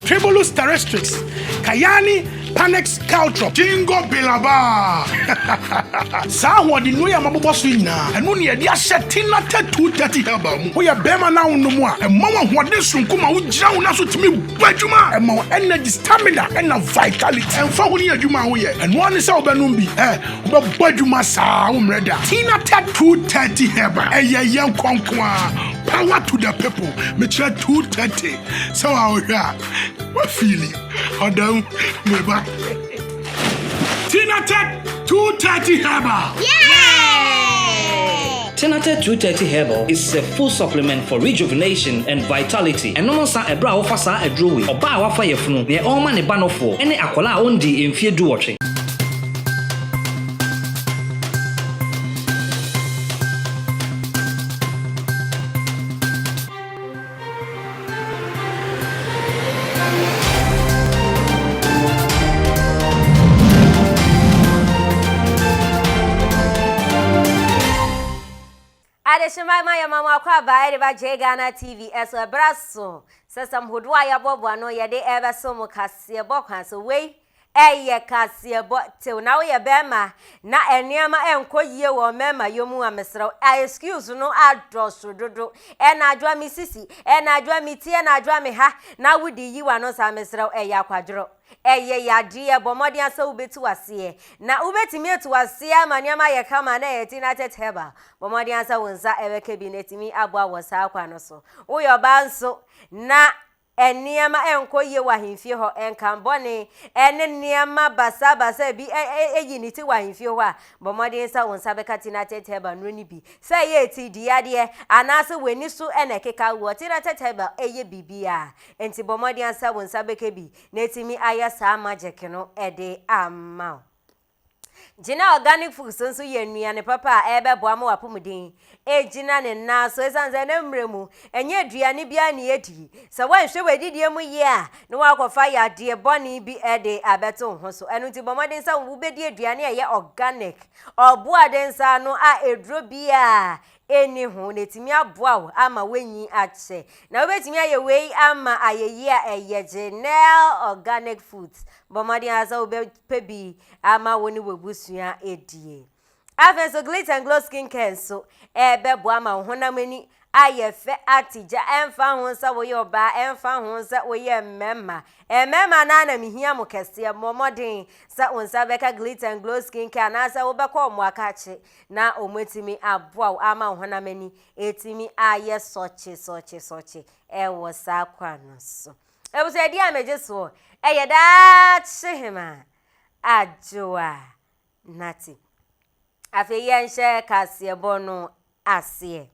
Tribulus terrestrix, Cayani panax caltrop, Gingko biloba. Saa ahoɔden nnuro yi a mabobɔ so yi nyinaa, ɛno na yɛde ahyɛ Tina Tatu Dirty Herbal mu. Woyɛ barima na wonom a, ɛma wo ahoɔden soronko ma wogyina wo nan so tumi bɔ adwuma. Ɛma wo energy, stamina na vitality. Ɛmfa ho ne adwuma a woyɛ, ɛno ara ne sɛ wobɛnom bi. Ɛ, wobɛbɔ adwuma saa a, wommrɛ da. Tina Tatu Dirty Herbal, ɛyɛ yɛn kɔ nko ara. Power to the people. Mekyerɛ Too Dirty. Sɛ wa wohwɛ a, wa fili ɔda mu me ba. Tinatet 230 herbal. Tinatet 230 herbal is a full supplement for rejuvenation and vitality. Ɛnom nsa ɛberɛ a wofa saa aduro wei. Ɔbaa a wafa yafunu, neɛ ɔrema ne ba nofoɔ, ɛne akwadaa a ɔndii mfeɛ duwɔtwe. Adehyema ma yɛma mo akwaaba de ba J Ghana TV so ɛberɛ aso sɛ sɛm hodoɔ a yɛabɔboa ano yɛde ɛrebɛso mo kaseɛbɔ kwan so. Wei Ɛyɛ kaseɛbɔ tew na woyɛ bɛɛma na nneɛma nkɔ yie wɔ mɛɛma yɔ mu a mesrɛw a excuse no adɔso dodo ɛna adwoa me sisi ɛna adwoa me ti ɛna adwoa me ha na wode yi wano saa mesrɛw ɛyɛ akwadworɔ ɛyɛ yadeɛ bɔ mmɔden asɛ wobɛti waseɛ na wobɛtumi ati waseɛ ama nneɛma ayɛ kama na ɛyɛ ti na tɛt herbal bɔ mmɔden asɛ wo nsa ɛbɛka bi na ɛtumi aboa wɔ saa kwa no so woyɛ ɔbaa nso na nneɛma nkɔ yie wɔ ahemfie hɔ, nkan bɔne, ne nneɛma basabasa a bi yi ne ti wɔ ahemfie hɔ a, bɔ mmɔden sɛ wo nsa bɛka Tinated Herbal nnuro no bi. Sɛ ɛyɛ atidiyadeɛ anaasɛ w'ani so na ɛkeka woɔ, Tinated Herbal yɛ biribiara. Enti bɔ mmɔden sɛ wo nsa bɛka bi na atumi ayɛ saa magic no de ama wo. Gyina organic food so nso yɛ nnuane papa a ɛbɛboa ma w'apɔmuden agyina ne nan so ɛsiane sɛ na mmerɛ mu ɛnyɛ aduane biara ne yɛdi. Sɛ woanhwɛ w'adidie mu yie a na woakɔfa yadeɛ bɔne bi de abɛto wo ho so. Ɛno nti bɔ mmɔden sɛ wobɛdi aduane a ɛyɛ organic, ɔboaden saa no a aduro biara nni ho na etumi aboa wo ama woanyin akyɛ. Na wubetumi ayɛ wei ama ayeyi a ɛyɛ Genel Organic Foods. Bɔ mmɔden ara sɛ wobɛpɛ bi ama wo ne w'abusua adie. Afei nso Glit and Glow Skin Care nso ɛbɛboa ma wo honam ani ayɛ fɛ atigya. Ɛmfa ho sɛ woyɛ ɔbaa, ɛmfa ho sɛ woyɛ mmarima. Mmarima no ara na mehia mo kɛseɛ. Mmɔ mmɔden sɛ wo nsa bɛka Glit and Glow Skin Care anaasɛ wobɛkɔ wɔn akakye na wɔatumi aboa wo ama wo honam ani atumi ayɛ sɔkye sɔkye sɔkye wɔ saa kwan no so. Abusuadi a megye soɔ yɛ daakye hema adwoa nate. Afei yɛnhyɛ kaseɛbɔ no aseɛ.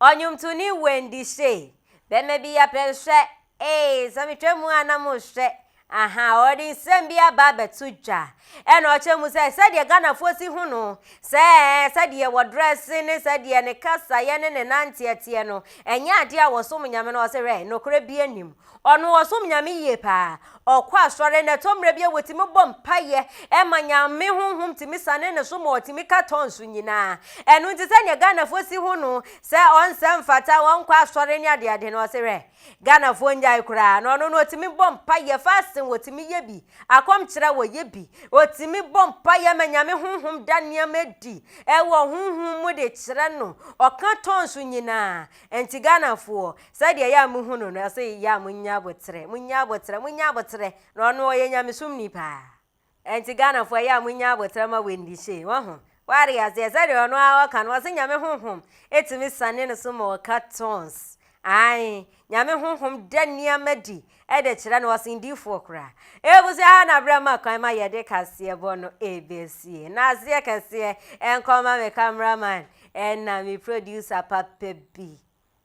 Ɔnwomtoni Wendy Shay, Bɛma bi yɛ pɛ nhwɛ, ee, sɛ metwa mu a na mohwɛ, ahaa, ɔde nsɛm bi aba abɛto dwa. Ɛna ɔkyerɛ mu sɛ sɛdeɛ Ghanafoɔ si hu no sɛ sɛdeɛ wɔdrɛse ne sɛdeɛ ne kasaeɛ ne ne nanteɛ teɛ no, ɛnyɛ adeɛ a wɔsom Nyame no, ɔse hwɛ, nokorɛ bi nnim. Ɔno ɔsom Nyame yie paa. Ɔkɔ asɔre na ɛtɔ mmerɛ bi a wɔtumi bɔ mpaeɛ ma Nyame honhom tumi sane ne so ma ɔtumi ka tɔn so nyinaa. Ɛno nti sɛdeɛ Ghanafoɔ si hu no sɛ ɔnsɛ mfata ɔnkɔ asɔre ne adeade no ɔse hwɛ Ghanafoɔ nnyae koraa na ɔno no ɔtumi bɔ mpaeɛ fasting ɔtumi yɛ bi akɔm kyerɛ ɔyɛ bi ɔtumi bɔ mpaeɛ ma Nyame honhom da nneɛma adi ɛwɔ honhom mu de kyerɛ no ɔka tɔn so nyinaa. Ɛnti Ghanafoɔ Sɛdeɛ yɛ a mohu no no, ɛsɛ yɛ a monya aboterɛ, monya aboterɛ, monya aboterɛ, na ɔno ɔyɛ nyamesomni paa. Ɛnti Ghanafoɔ ɛyɛ a monya aboterɛ ma Wendy Shay, wahu, wate aseɛ, sɛdeɛ ɔno ara ɔka no, ɔse Nyame Honhom tumi sane no so ma ɔka tongues, ae, Nyame Honhom da nneɛma adi de kyerɛ no, ɔsen diifoɔ koraa. Abusua ha na berɛ ma kwan ma yɛde kaseɛbɔ no ɛbɛsie. Na aseɛ kɛseɛ nkɔ ma me camera man ɛna me producer papa bi.